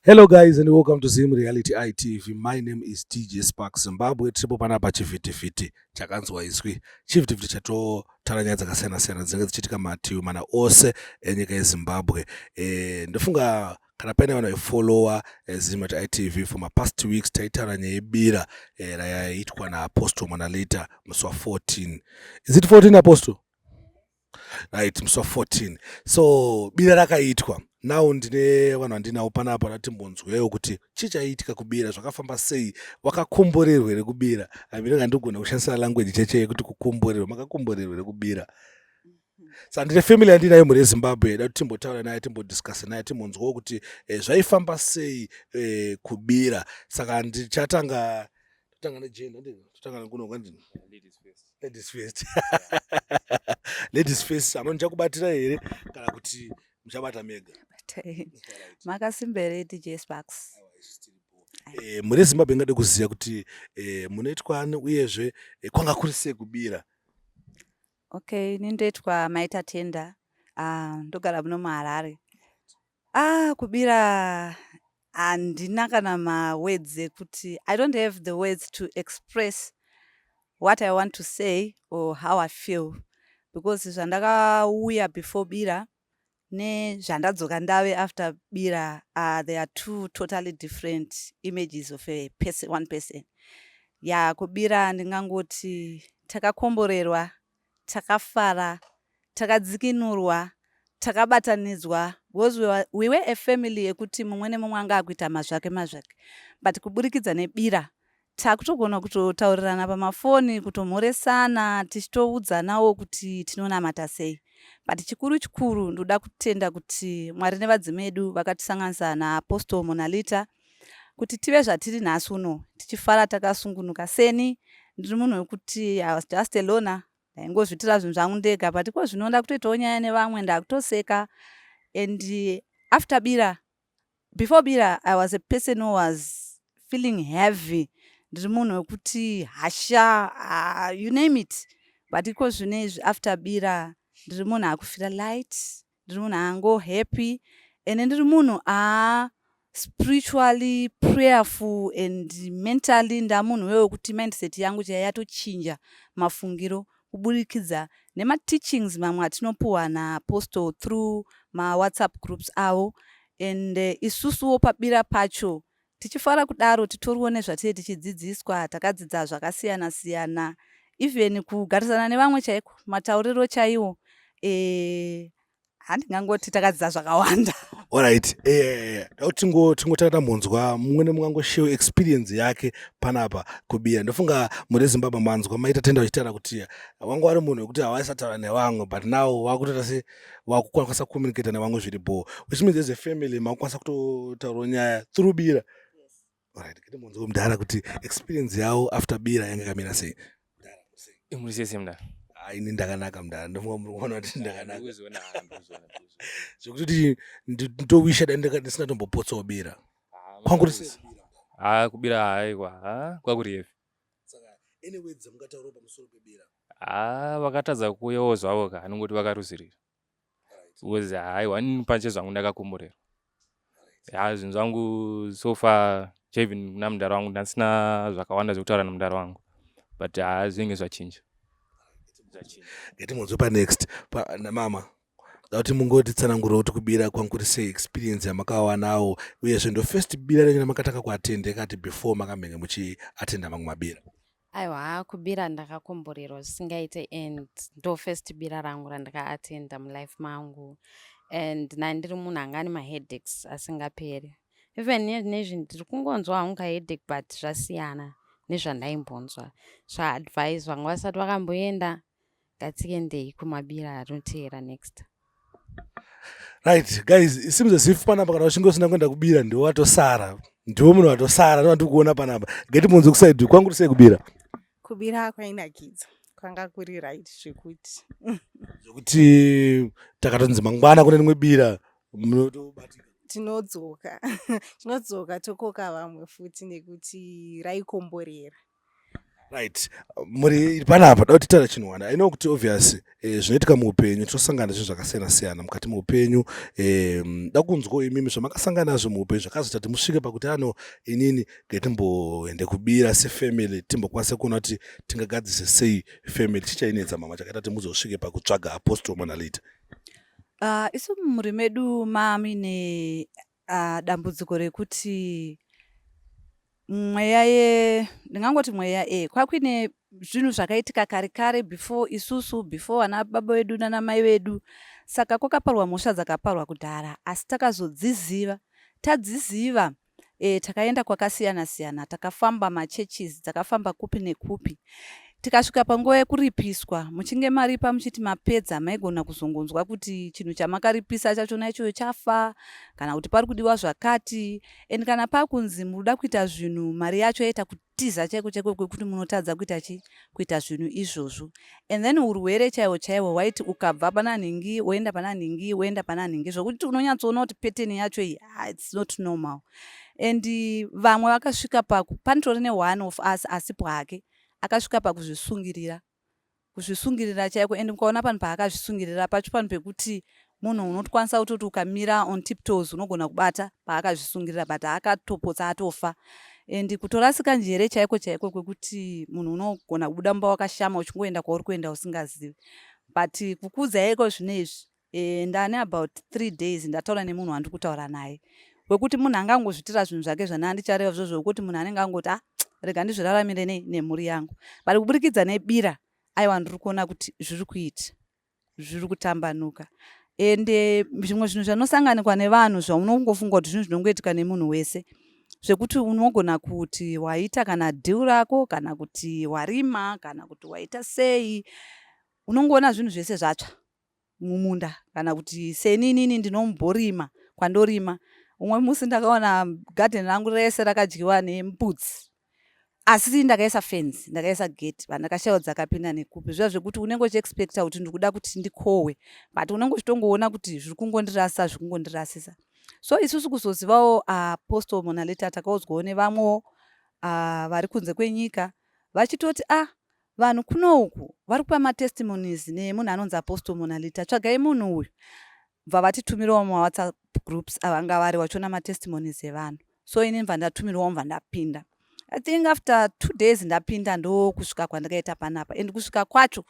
Hello guys and welcome to Zim Reality ITV. My name is DJ Spark Zimbabwe. Tiripo panapa chivhitivhiti chakanzwa iswi. Chivhitivhiti chatotaura nyaya dzakasiyana siyana dzinenge dzichiitika mativi mana ose enyika yeZimbabwe. Eh, ndofunga kana paine vanhu vaifollowa eh, Zim at ITV for my past weeks taitaura nyaya yebira eh, rayaitwa naApostle Mwanalita musi wa 14. Is it 14 Apostle? right musi wa 14 so bira rakaitwa now ndine vanhu vandinawo panapa ratimbonzwewo kuti chii chaiitika kubira zvakafamba sei wakakomborerwa here kubira aminonga ndigona kushandisa language cheche yekuti kukomborerwa makakomborerwa here kubira so handine family yandinayo mhuri yezimbabwe yada kuti timbotaura naye timbodiscuse naye timbonzwawo kuti eh, zvaifamba sei eh, kubira saka ndichatanga totanga nejenda totanga nekunonga ndini Ladies first. ladies first ladies first amani chakubatira here kana kuti muchabata mega makasimba here dj sparks e, mune zimbabwe ingade kuziva kuti e, munoitwa ani uyezve e, kwanga kuri sei kubira okay ini ndoitwa maita tenda uh, ndogara muno muharare ah kubira handina kana mawords ekuti i don't have the words to express what i want to say or how i feel because zvandakauya before bira nezvandadzoka ndave after bira uh, there are two totally different images of a person, one person ya kubira ndingangoti takakomborerwa takafara, takadzikinurwa, takabatanidzwa because we were, we were a family yekuti mumwe nemumwe anga akuita mazvake mazvake but kuburikidza nebira takutogona kutotaurirana pamafoni kutomhoresana tichitoudzanawo kuti tinonamata sei but chikuru chikuru ndoda kutenda kuti mwari nevadzimi vedu vakatisanganisa naapostle monalita kuti tive zvatiri nhasi uno tichifara takasungunuka seni ndiri munhu wekuti i was just alona ndaingozvitira zvinhu zvangu ndega but ko zvino ndakutoitawo nyaya nevamwe ndakutoseka and after bira before bira i was a person who was feeling heavy ndiri munhu wekuti hasha uh, you name it but iko zvino izvi after bira ndiri munhu akufira light ndiri munhu ango happy ende ndiri munhu a spiritually prayerful and mentally ndamunhu wewe wekuti mindset yangu chaiyo yatochinja mafungiro kuburikidza nemateachings mamwe atinopuwa naapostle through mawhatsapp groups avo and eh, isusuwo pabira pacho Tichifara kudaro titoriwo nezvatiri tichidzidziswa takadzidza zvakasiyana siyana even kugarisana nevamwe chaiko matauriro chaiwo eh, handingangoti takadzidza zvakawanda Alright, eh, eh, tingo tingotanga tambonzwa mumwe nemumwe angoshew experience yake panapa kubiya. Ndofunga muri Zimbabwe manzwa maita tenda vachitaura kuti wanga wari munhu wekuti hawaisataura nevamwe but now wakutoita se wakukwanisa kucommunicate nevamwe zviri bho which means as a family makukwanisa kutotaura nyaya through bira right kiti munzi wemudhara kuti experience yawo after bira yanga kamira sei muri sei sei mudhara ah, ini ndakanaka mudhara ndofunga muri kuona kuti ndakanaka zvekuti ndowisha dai ndisina tombopotsawo bira ah, kwanguri sei ah, kubira haikwa kwakuri yepi haa vakatadza kuuyawo zvavo ka anongoti vakaruzirira because haiwa ini pache zvangu ndakakomborerwa haa zvinhu zvangu so far chaevin kuna mudhara wangu ndasina zvakawanda zvekutaura namudhara wangu but haa zvinenge zvachinja ngatimhonzwe panext namama Ndauti mungoti tsanangura kuti kubira kwangu kuri sei experience yamakawanawo uyezve ndo first bira renyu ramakatanga kuatende kati before makamhenge muchiatenda mamwe mabira. Aiwa kubira ndakakomborerwa zvisingaite and ndo first bira rangu randikaatenda mulife mangu and nai ndiri munhu anga ane maheadaches asingaperi even nezvi ndiri kungonzwa hangu kaheadache but zvasiyana nezvandaimbonzwa zvaadvise vanga vasati vakamboenda ngatiendei kumabira anoteera next right guys it seems as if panapa kana uchinge usina kuenda kubira ndiwo watosara ndiwo munhu watosara no kuona panapa geti munzi kusaidi kwangu tisei kubira kubira kwainakidzo kwanga kuri right zvekuti zvekuti takatonzi mangwana kune rimwe bira munotobatika tinodzoka tinodzoka tokoka vamwe futi nekuti raikomborera right muri panapa da kuti tara chinhu wana ino kuti obvious eh, zvinoitika muupenyu tinosangana zvinhu zvakasiyana siyana mukati muupenyu eh, da kunzwa imimi zvamakasangana nazvo muupenyu zvakazoita kuti musvike pakuti ano inini ngetimboende kubira sefamily timbokwanise kuona kuti tingagadzise sei family chichainetsa mama chakaita kuti muzosvike pakutsvaga apostle manalita uh, ah, isu mumhuri medu mami ne Ah, dambudziko rekuti mweya ye ndingangoti mweya e kwakuine zvinhu zvakaitika kare kare before isusu before ana baba vedu nana mai vedu saka kwakaparwa mhosva dzakaparwa kudhara asi takazodziziva tadziziva e, takaenda kwakasiyana siyana takafamba machurches dzakafamba kupi nekupi Tikasvika panguva yekuripiswa, muchinge maripa muchiti mapedza, maigona kuzongonzwa kuti chinhu chamakaripisa chachona ichoyo chafa kana kuti pari kudiwa zvakati. And kana pakunzi muri kuda kuita zvinhu, mari yacho yaita kutiza chaiko chaiko kwekuti munotadza kuita chi kuita zvinhu izvozvo. And then urwere chaiwo chaiwo hwaiti ukabva pana nhingi woenda pana nhingi woenda pana nhingi zvokuti unonyatsoona kuti pattern yacho iyi ah, it's not normal. And vamwe vakasvika paku panitori ne one of us asipo hake. Akasvika pakuzvisungirira kuzvisungirira chaiko and mukaona panhu paakazvisungirira pacho panhu pekuti munhu unotokwanisa kutoti ukamira on tiptoes unogona kubata paakazvisungirira but akatopotsa atofa and kutorasika njere chaiko chaiko kwekuti munhu unogona kubuda mumba wakashama uchingoenda kwauri kuenda usingazivi but kukuudza yaiko zvino izvi Eh, ndane about three days ndataura nemunhu wandiri kutaura naye wekuti munhu anga angozvitira zvinhu zvake zvana andichareva zvo zvokuti munhu anenge angoti a ah, rega ndizviraramire nei nemhuri yangu but kuburikidza nebira aiwa ndiri kuona kuti zviri kuita zviri kutambanuka ende eh, zvimwe zvinhu zvanosanganikwa nevanhu zvaunongofunga kuti zvinhu zvinongoitika nemunhu wese zvekuti unogona kuti waita kana deal rako kana kuti warima kana kuti waita sei unongoona zvinhu zvese zvatsva mumunda kana kuti seni inini ndinomborima kwandorima umwe musi ndakaona garden rangu rese rakadyiwa nempudzi asi ndakaisa fence ndakaisa gate vanhu ndakashaiwa dzakapinda nekupi zviya zvekuti unenge uchiexpecta kuti ndikuda kuti ndikohwe but unenge uchitongoona kuti zviri kungondirasa zviri kungondirasisa so isusu kuzozivawo apostle ah, monaleta takaudzwawo nevamwewo ah, vari kunze kwenyika vachitoti ah Vanhu kuno uku vari kupa matestimonies nemunhu anonzi Apostle Monalita. Tsvagai munhu uyu. Bva vatitumirawo mumaWhatsApp groups avanga vari wachiona matestimonies evanhu. So ini ndibva ndatumirwawo ndibva ndapinda. I think after two days ndapinda ndokusvika kwandakaita panapa and kusvika kwacho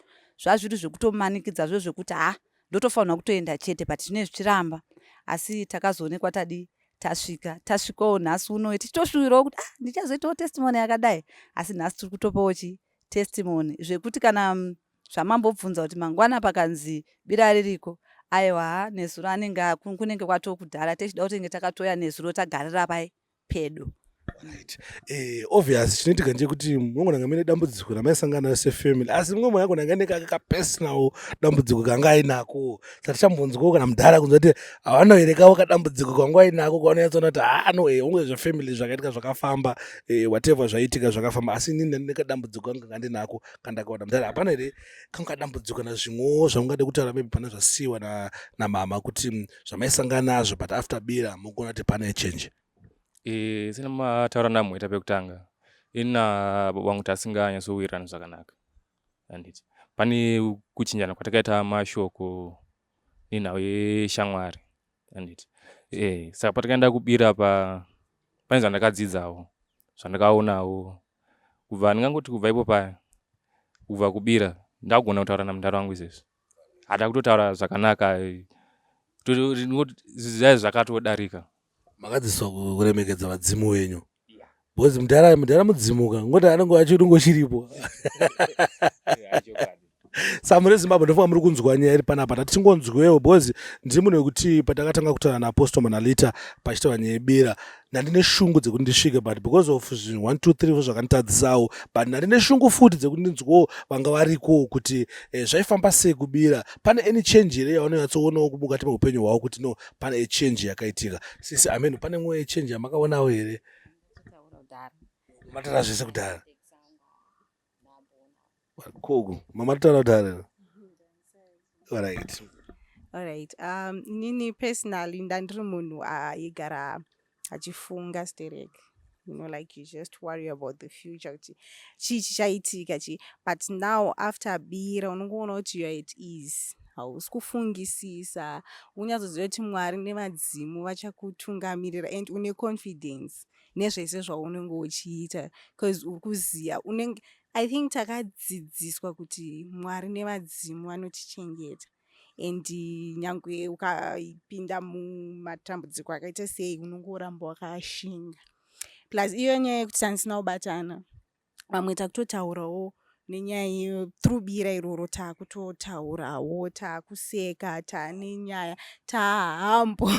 zvazviri zvekutomanikidza zvo zvekuti ha ndotofanirwa kutoenda chete but zvinee zvichiramba asi takazoonekwa tadii tasvika tasvikawo nhasi uno tichitoshuwirawo kuti ah, ndichazoitawo testimony yakadai asi nhasi tiri kutopawo chi testimony zvekuti kana mm, zvamambobvunza kuti mangwana pakanzi bira ririko aiwa nezuro anenge kunenge kwatokudhara techida kutenge takatoya nezuro tagarira pai pedo Right. Eh, obvious chinoitika ndechekuti munogona kunge mune dambudziko ramaisangana naro sefamily asi mumwe mwana agona kunge ane kake kapersonal dambudziko kanga ainako satichambonzwawo kana mudhara kunzwa kuti havanoerekawo kadambudziko kanga ainako kwavanonyatsoona kuti haa anoe eh, unge zvefamily zvakaitika zvakafamba eh, whatever zvaitika zvakafamba asi inini ndine kadambudziko kanga kanga ndinako kandakaona mudhara hapana here kanga kadambudziko na zvimwewo zvamungade kutaura maybe pana zvasiyiwa namama kuti mm, zvamaisangana nazvo but after bira mukuona kuti pane change Eh, sina mataura namweta pekutanga ina baba vangu tasinganyatsowirirana zvakanaka anditi pane kuchinjana kwatakaita mashoko nenhau yeshamwari anditi e, eh, saka patakaenda kubira pa pane zvandakadzidzawo zvandakaonawo kubva ndingangoti kubva ipo paya kubva kubira ndakugona kutaura namudhara wangu izvezvi hada kutotaura zvakanaka eh, zvakatodarika makadzidziswa ku- kuremekedza vadzimu venyu because mudhara mudhara mudzimu ka ngoti anenge achiri ngochiripo samure zimbabwe ndofunga muri kunzwa nyaya iri panapa tati tingonzwewo because ndiri munhu wekuti patakatanga kutaura naapostle manalita pachitaura nyaya yebira ndandine shungu dzekuti ndisvike but because of zvinhu one two three zvakanditadzisawo but ndandine shungu futi dzekuti ndinzwewo vanga varikowo kuti eh, zvaifamba sei kubira pane any change here yaunonyatsoonawo mukati meupenyu hwavo kuti no pane change yakaitika sisi ameno pane mwoyo change yamakaonawo here matara zvese kudhara koku mamatara kudhara orit orit um nini personally ndandiri munhu aigara uh, achifunga sterek you know like you just worry about the future kuti chii chichaitika chii but now after abira unongoona kuti youare at ease hausi kufungisisa unyatsoziva kuti mwari nevadzimu vachakutungamirira and une confidence nezvese zvaunenge uchiita bcause uri kuziva unenge i think takadzidziswa kuti mwari nevadzimu vanotichengeta and nyangwe ukapinda mumatambudziko akaita sei unongoramba wakashinga plus iyo nyaya yekuti tandisina kubatana vamwe takutotaurawo nenyaya iyo through bira iroro taakutotaurawo taakuseka taane nyaya taahambo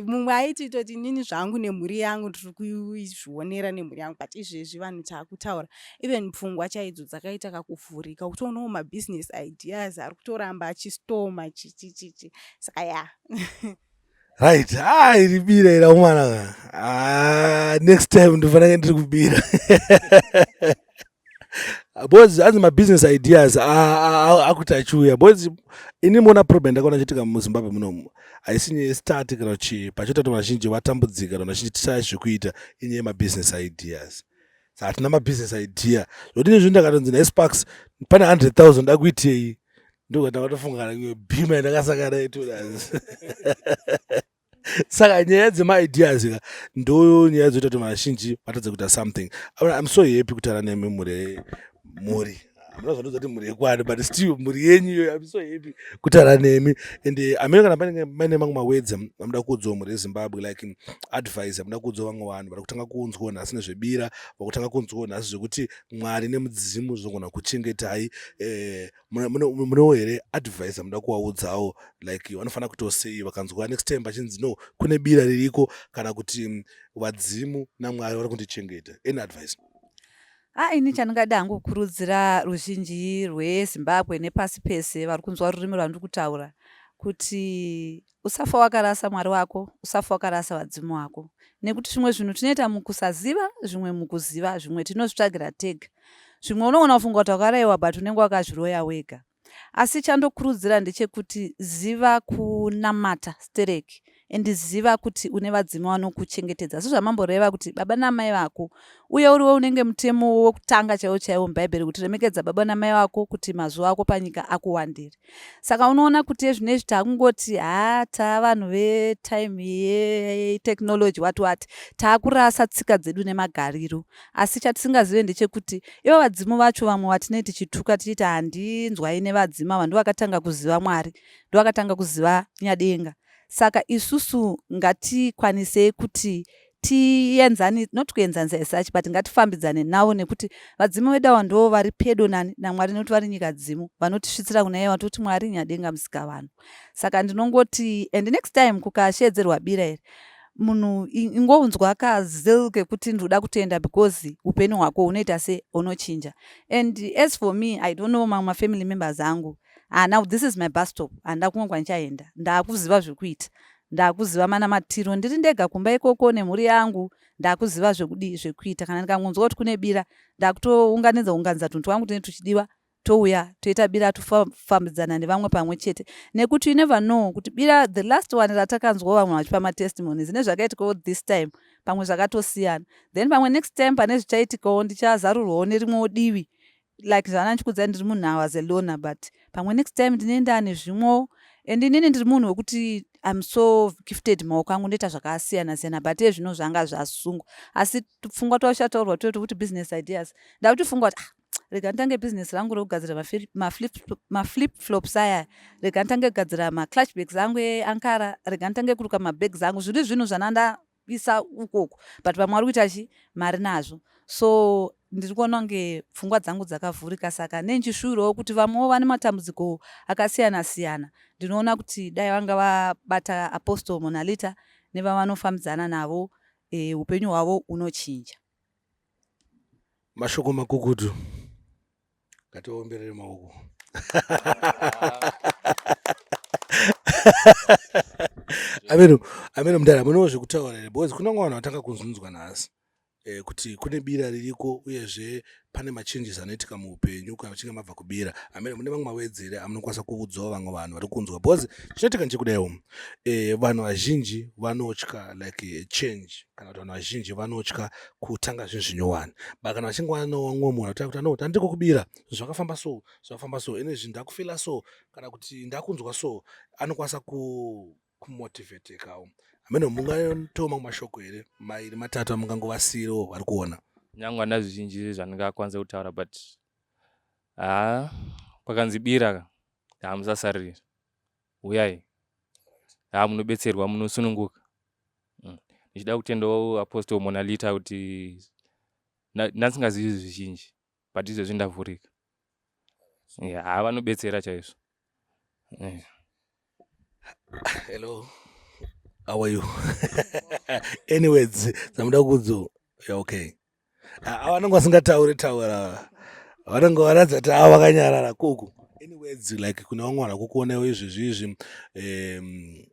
mumwe aiti toti inini zvangu nemhuri yangu tiri kuzvionera nemhuri yangu but izvezvi vanhu taakutaura even pfungwa chaidzo dzakaita kakuvhurika kutoonawo mabusiness ideas ari kutoramba achistoma chichichichi saka ya right ha ah, iri bira ira umwana ah, next time ndofanake ndiri kubira bozi anzi mabusiness ideas akuti achiuya bozi ini mona problem ndakaona chitika muzimbabwe munomu haisi nyaya yestati kana chii pachoita kuti vazhinji vatambudzika kana vazhinji tisaya zvekuita inyaya yemabusiness ideas hatina mabusiness idea zvodini zvii ndakatonzi nesparks pane 100 000 dakuitei ndokatavatofungaa bhima yandakasakara itodas saka nyaya dzemaideas ka ndo nyaya dzoita kuti vanhu vazhinji vatadze kuita something iam so happy kutara nemi mhuri mhuri hamuna zvanozoti mhuri yekwani but still mhuri yenyu iyoyo am so happy kutara nemi and eh, amene kana paine maine mamwe mawedza amuda kuudzwa mhuri yezimbabwe like mm, advice amuda kuudzwa vamwe vanhu vari kutanga kunzwa nhasi nezvebira vakutanga kunzwa nhasi zvekuti mwari nemudzimu zvinogona kuchengetai eh, munewo here advice amuda kuvaudzawo like vanofanira kutoo sei vakanzwa next time vachinzi no kune bira ririko kana kuti mm, vadzimu namwari vari kundichengeta any advice Ah, ini chandingada hangu kukurudzira ruzhinji rwezimbabwe nepasi pese vari kunzwa rurimi rwandiri kutaura kuti usafa wakarasa mwari wako usafa wakarasa vadzimu wako nekuti zvimwe zvinhu tinoita mukusaziva zvimwe mukuziva zvimwe tinozvitsvagira tega zvimwe unogona kufunga kuti wakaraiwa but unenge wakazviroya wega asi chandokurudzira ndechekuti ziva kunamata stereki and ziva kuti une vadzimu vanokuchengetedza asi zvamamboreva kuti baba namai vako uye uriwe unenge mutemo wokutanga chaiwo chaiwo mubhaibheri kuti remekedza baba namai vako kuti mazuva ako panyika akuwandire saka unoona kuti ezvino izvi taakungoti ha taa vanhu vetime yetechnology wati wati taakurasa tsika dzedu nemagariro asi chatisingazive ndechekuti ivo vadzimu vacho vamwe vatinei tichituka tichiti handinzwai nevadzimu ava ndovakatanga kuziva mwari ndovakatanga kuziva nyadenga saka isusu ngatikwanisei kuti tienzani not kuenzanisa esuch but ngatifambidzane navo nekuti vadzimu vedu ava ndoo vari pedo nani namwari nekuti vari nyika dzimu vanotisvitsira kuna iye vatoti mwari nyadenga musika vanhu saka ndinongoti and next time kukasheedzerwa bira iri munhu ingonzwa kazil kekuti ndinoda kutenda because upenyu hwako hunoita se unochinja and as for me i don't know mamwe mafamily members angu ah, now this is my bus stop handina kumwe kwandichaenda ndaakuziva zvekuita ndaakuziva mana matiro ndiri ndega kumba ikoko nemhuri yangu ndaakuziva zvekudii zvekuita kana ndikangonzwa kuti kune bira ndaakutounganidza unganidza tunhu twangu tine tuchidiwa touya toita bira tofambidzana nevamwe pamwe chete nekuti you never know kuti bira the last one ratakanzwawo vamwe vachipa matestimonies nezvakaitikawo this time pamwe zvakatosiyana then pamwe next time pane zvichaitikawo ndichazarurwawo nerimwewo divi like zvana ndichikudzai ndiri munhu awas alona but pamwe next time ndine ndane zvimwewo and inini ndiri munhu wekuti im so gifted maoko angu ndoita zvakasiyana siyana but ezvino zvanga zvasungwa asi pfungwa twashataurwa totokuti business ideas ndakuti fungwa kuti ah, rega nditange business rangu rekugadzira maflip flops aya rega nditange kugadzira maclutch bags angu eankara rega nditange kuruka mabags angu zviri zvinhu zvanandaisa ukoko but vamwe vari kuita chi mari nazvo so ndiri kuona kunge pfungwa dzangu dzakavhurika saka nenjishuwirawo kuti vamwewo vane matambudziko akasiyana siyana ndinoona kuti dai vanga vabata apostle monalita nevavanofambidzana navo eh, upenyu hwavo unochinja mashoko makukutu ngatiomberere maoko ameno ameno mudara munewo zvekutaura here because kunyange vanhu vatanga kuzunzwa nhasi eh, kuti kune bira ririko uyezve pane machanges anoitika muupenyu kana muchinge mabva kubira amene mune vamwe mawedzi here amunokwanisa kuudzawo vamwe vanhu vari kunzwa because chinoitika ndechekudaiwo um eh, vanhu vazhinji vanotya like eh, change kana kuti vanhu vazhinji vanotya kutanga zvinhu zvinyowani but kana vachinge vanowa mumwe munhu atanga kuti anoti handiko kubira zvakafamba so zvakafamba so ine zvinhu ndakufila so kana kuti ndakunzwa so anokwanisa ku kumotivetekawo hameno mungatowo mamwe mashoko here mairi matatu amungangovasiirewo vari kuona nyange hana zvizhinji zvandingakwanisa kutaura but haa kwakanzi bira hamusasariri huyai haa munobetserwa munosununguka mm. ndichida kutendawo apostol monalita kuti ndansingazivi zvizhinji but izvezvi ndavhurika yeah, haa vanobetsera chaizvo yeah. hello how are you anyways samuda kudzo ya okay avanenge vasingataure taura vanenge varatidza kuti ava vakanyarara kuku anyways like kune vamwe vanhu vakukuonewo izvezvi izvi um,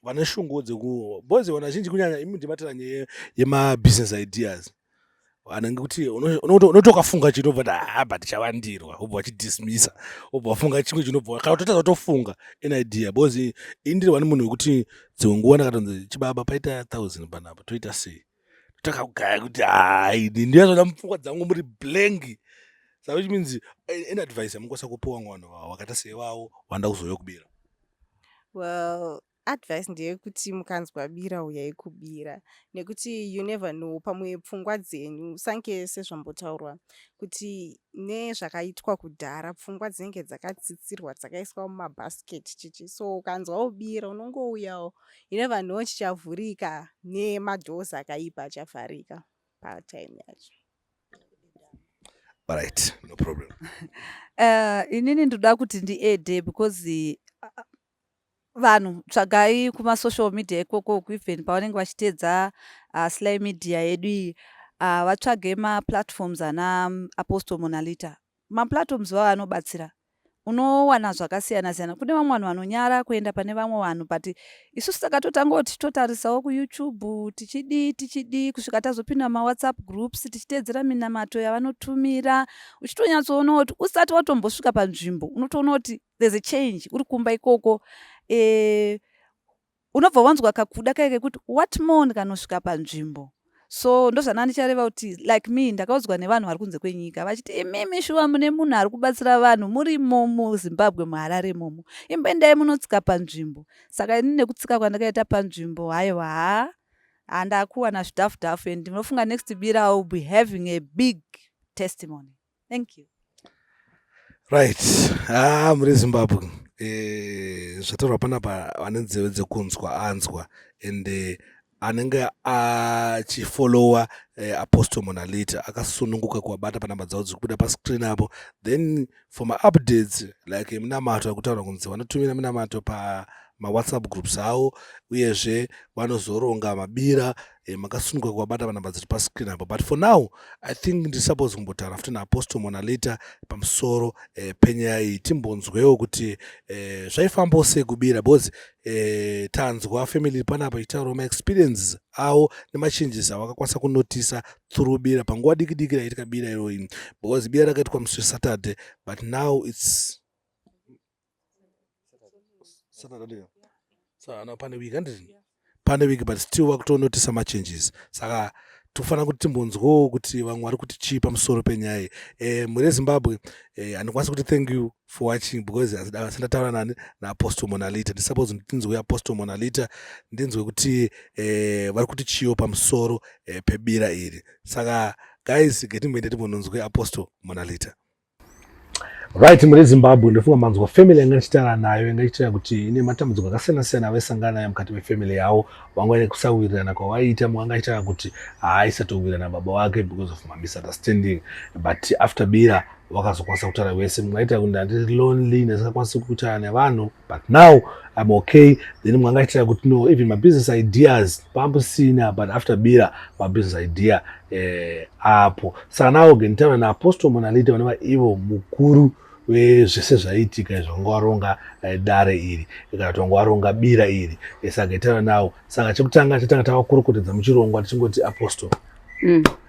vane shungu dzekubozi vanhu vazhinji kunyanya imi ndimatira nyaya yemabusiness ideas kana ngekuti unoti ukafunga chito but haa but chavandirwa obva wachidismisa obva wafunga chimwe chinobva kana kutotadza kutofunga an idea because indiri wani munhu wekuti dzimwe nguva ndakatonzi chibaba paita thousand panapa toita sei takagaya kuti hai ndiyazvona mupfungwa dzangu muri blank sa which means eh, an advice yamukwanisa kupiwa mwana wakaita seiwawo wanda kuzouya kubira well Advice ndeyekuti mukanzwa bira uyai kubira nekuti you never know pamwe pfungwa dzenyu sange sezvambotaurwa kuti nezvakaitwa kudhara pfungwa dzinenge dzakatsitsirwa dzakaiswa mumabasket chichi so ukanzwa ubira unongouyawo you never know chichavhurika nemadoors akaipa achavharika patime yacho Alright, no problem. uh, inini ndoda kuti ndiede because uh, vanhu tsvagai kumasocial media ikoko even pavanenge vachiteedza uh, sly media yedu iyi uh, vatsvage maplatforms ana um, apostle monalita maplatforms vavo anobatsira unowana zvakasiyana siyana kune vamwe vanhu vanonyara kuenda pane vamwe vanhu but isusu takatotanga kuti totarisawo kuyoutube tichidii tichidii kusvika tazopinda mumawhatsapp groups tichiteedzera minamato yavanotumira uchitonyatsoona kuti usati watombosvika panzvimbo unotoona kuti there's a change uri kumba ikoko eh, unobva wanzwa kakuda kaye kekuti what more ndikanosvika panzvimbo so ndozvana ndichareva kuti like me ndakaudzwa nevanhu vari kunze kwenyika vachiti imimi shuwa mune munhu ari kubatsira vanhu muri momo zimbabwe muharare momo imboendai munotsika panzvimbo saka ini nekutsika kwandakaita panzvimbo haiwa haa handakuwana zvidhafu dhafu and ndinofunga next bira will be having a big testimony thank you right ah muri zimbabwe eh, zvataurwa panapa ane nzeve dzekunzwa anzwa and eh, anenge achifollowa eh, apostle monalita akasununguka kuwabata panamba dzavo dziri kubuda pascreen apo then for maupdates like minamato akutaura kunzi vanotumira minamato pa mawhatsapp groups avo uyezve vanozoronga mabira e, eh, makasununguka kuvabata vanamba dziri pascreen apo but for now i think ndiri suppose kumbotaura futi naapostle mona later pamusoro e, penyaya iyi timbonzwewo kuti e, zvaifambawo sei kubira because e, tanzwa family panapa ichitaurawo maexperiences awo nemachanges awo akakwanisa kunotisa through bira panguva diki diki raitika bira iroyi because bira rakaitwa musi wesaturday but now its pane week handiti pane week but still vakutonotisa machanges saka tofanira kuti timbonzwawo kuti vamwe vari kuti chii pamusoro penyaya iyi e, mhuri yezimbabwe e, handikwanisi kuti thank you for watching because asi ndataura nani naapostle monalita ndisuppose ndinzwe apostle monalita ndinzwe kuti e, vari kuti chiiwo pamusoro e, pebira iri saka guys getimboende timbononzwe apostle monalita Right, muri Zimbabwe ndofunga manzwa family yanga ndichitara nayo yanga ichitara kuti ine matambudziko akasiyana siyana avaisangana nayo mukati mefamily yavo vanga ine kusawirirana kwavaiita mumwe anga achitara kuti haaisatowirirana baba wake because of mamisunderstanding but after bira vakazokwanisa kutaura vese mumwe aita kuti ndandiri lonely ndasingakwanisi kutaura nevanhu but now I'm okay then mwangaitira kuti no even my business ideas pamusina but after bira my business idea eh, apo saka nawo genitaura naapostle monalita vanova ivo mukuru vezvese zvaiitika izvo vanga waronga eh, dare iri kana kuti vanga waronga bira iri eh, saka itaura nawo saka chekutanga chatanga tavakurukutidza muchirongwa tichingoti apostle mm.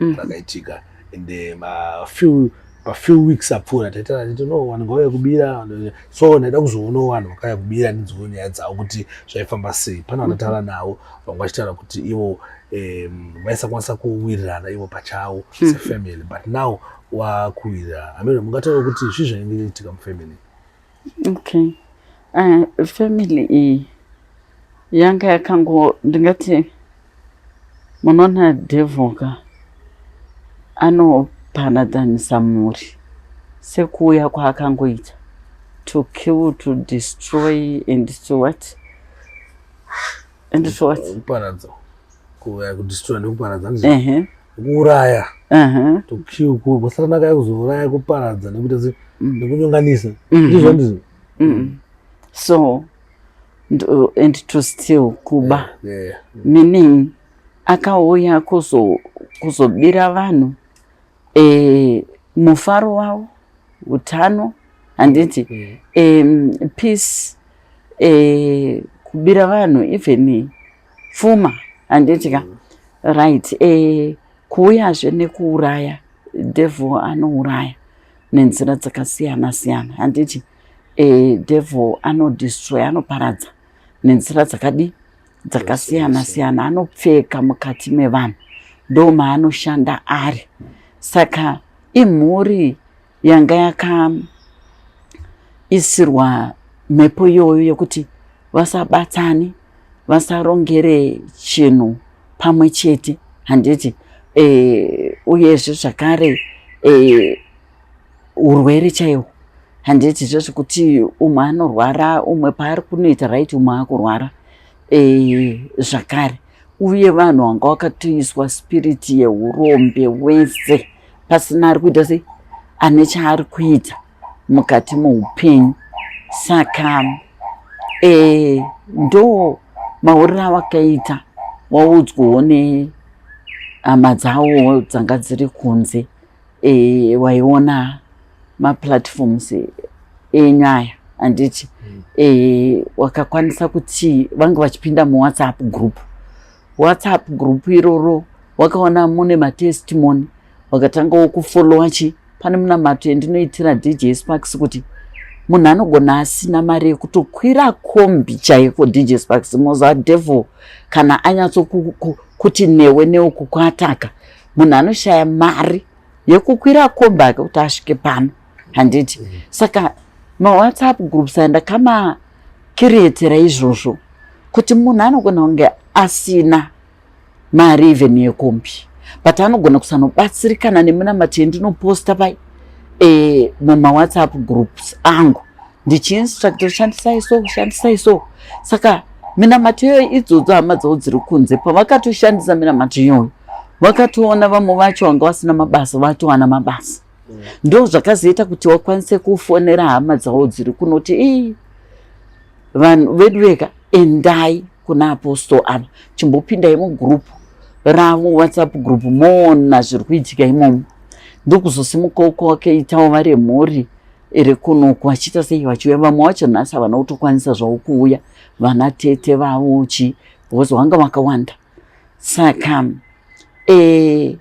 mm. rakaitika and eh, ma few pa few weeks apfuura taitana titi no vanhu ngauya kubira so ndaida kuzoonawo vanhu vakauya kubira ndinzwewo nyaya dzavo kuti zvaifamba sei pane vanotaura mm-hmm. navo vanga vachitaura kuti ivo vaisakwanisa kuwirirana ivo pachavo mm-hmm. sefamily but now wakuwirira amene mungataura kuti zvii zvainge itika mufamily Okay. Uh, family iyi yanga yakango ndingati munoona devil ka anopanadhanisa mhuri sekuuya kwaakangoita to kill to destroy and to what and to what kuparadza kuuya kudestroy nekuparadza uh -huh. kuuraya kusatanaka kuzouraya kuparadza nekuita mm. nekunyonganisa mm-hmm. ndizvo ndizvo mm-hmm. so and to still kuba meaning akauya kuzobira vanhu eh, mufaro wavo utano handiti mm-hmm. peace eh, kubira vanhu even pfuma handiti ka mm. right eh, kuuyazve nekuuraya devil anouraya nenzira dzakasiyana siyana handiti eh, devil anodestroy anoparadza nenzira dzakadi dzakasiyana siyana anopfeka mukati mevanhu ndo maanoshanda ari saka imhuri yanga yakaisirwa mhepo iyoyo yekuti vasabatsane vasarongere chinhu pamwe chete handiti e, uyezve zvakare e, urwere chaihwo handiti zvekuti umwe anorwara umwe paari kunoita right umwe akurwara e, zvakare uye vanhu vanga vakatoiswa spirit yeurombe wese pasina ari kuita sei ane chaari kuita mukati moupenyu saka e, ndo maurira avakaita waudzwawo nehama dzavo dzanga dziri kunze e, waiona maplatforms enyu aya handiti mm. e, wakakwanisa kuti vange vachipinda muwhatsapp group whatsapp group iroro wakaona mune matestimony wakatanga wokufolowa chi pane munamato yandinoitira dj sparks kuti munhu anogona asina mari yekutokwira kombi chaiko dj sparks moza devil kana anyatsokuti newe neuku kwaataka munhu anoshaya mari yekukwira kombi ake kuti asvike pano handiti mm. saka mawhatsapp groups andakama kirietera izvozvo kuti munhu anogona kunge asina mari even yekombi but anogona kusanobatsirikana nemunamati yendinoposta pai e, mumawhatsapp groups angu ndichiinstructor shandisai so shandisai so saka minamato iyoyo idzodzo hama dzavo dziri kunze pavakatoshandisa minamato iyoyo vakatoona vamwe vacho vanga vasina mabasa vatowana mabasa mm. ndo zvakazoita kuti vakwanise kufonera hama dzavo dziri kunoti ii vanhu vedu veka endai kuna apostol ava chimbopindai mugrupu ravo whatsapp group moona zviri kuitika imomo ndokuzosimuka uko wakaitawo vari mhuri ere kunoku vachiita sei vachiuya vamwe wacho nhasi havana kutokwanisa zvavo kuuya vana tete vavo chi because wanga wakawanda saka e,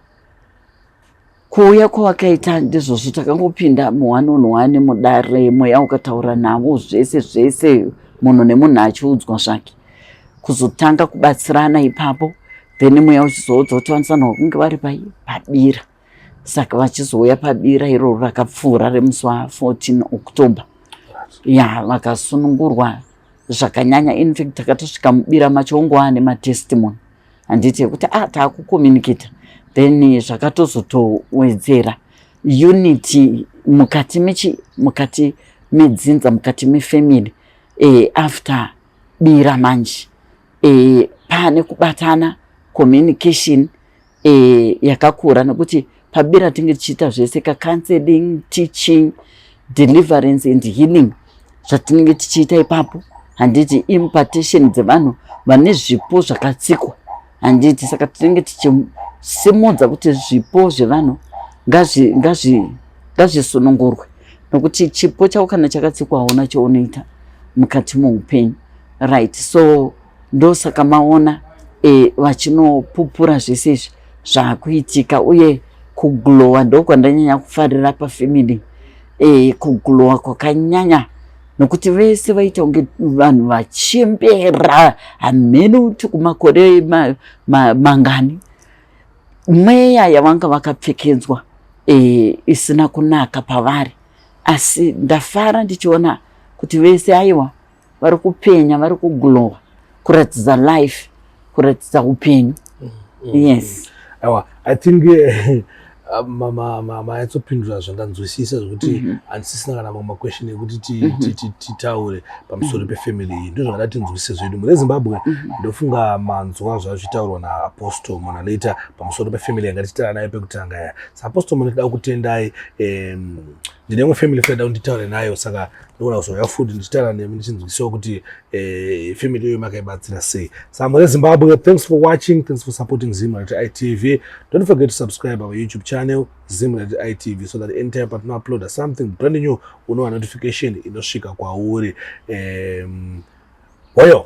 kuuya kwawakaita ndizvozvo takangopinda muhwani unhwani mudare mweya ukataura navo zvese zvese munhu nemunhu achiudzwa zvake kuzotanga kubatsirana ipapo then mweya uchizoudza kuti vanisana kunge vari pai pabira saka vachizouya pabira iroro rakapfuura remusi wa 14 october ya vakasunungurwa zvakanyanya infact takatosvika mubira macho ongova nematestimony handiti yekuti a ah, taakucommunicata then zvakatozotowedzera unity mukati mechi mukati medzinza mukati mefamily e, after bira manje e, pane kubatana communication e, yakakura nekuti pabira tinge tichiita zvese kacounseling teaching deliverance and healing zvatinenge tichiita ipapo handiti impartation dzevanhu vane zvipo zvakatsikwa handiti saka tinenge tichisimudza kuti zvipo zvevanhu ngazvisunungurwe nokuti chipo chako kana chakatsikwa hauna chaunoita mukati moupenyu right so ndosaka maona e, vachinopupura zvese izvi zvakuitika uye kuglowa ndokwandanyanya kufarira pafamily e, kuglowa kwakanyanya nokuti vese vaita kunge vanhu vachembera hamheni kuti kumakore ma, ma, mangani mweya yavanga vakapfekedzwa e, isina kunaka pavari asi ndafara ndichiona kuti vese aiwa vari kupenya vari kuglowa kuratidza life kuratidza upenyu mm, mm, yes mm. aiwa i think eh, mayatsopindura zvandanzwisisa zvekuti mhm. handisisina kana mamwe maquestion ekuti mhm. titaure pamusoro mhm. pefamily iyi ndo zvakada tinzwisise zvedu mune zimbabwe ndofunga manzwa zvazvitaurwa naapostle mona later pamusoro pefamily yanga tichitaura nayo pekutanga ya saapostle mona tida kutendai ndine imwe family fada kunditaure nayo saka ndogona kuzouya futi ndichitaura nemi ndichinzwisiwa kuti eh, family iyoyo makaibatsira sei sambo rezimbabwe thanks for watching thanks for supporting zimrat itv don't forget to subscribe our youtube channel zimrat itv so that anytime patinouploada something brand new unowa notification inosvika kwauri um, hoyo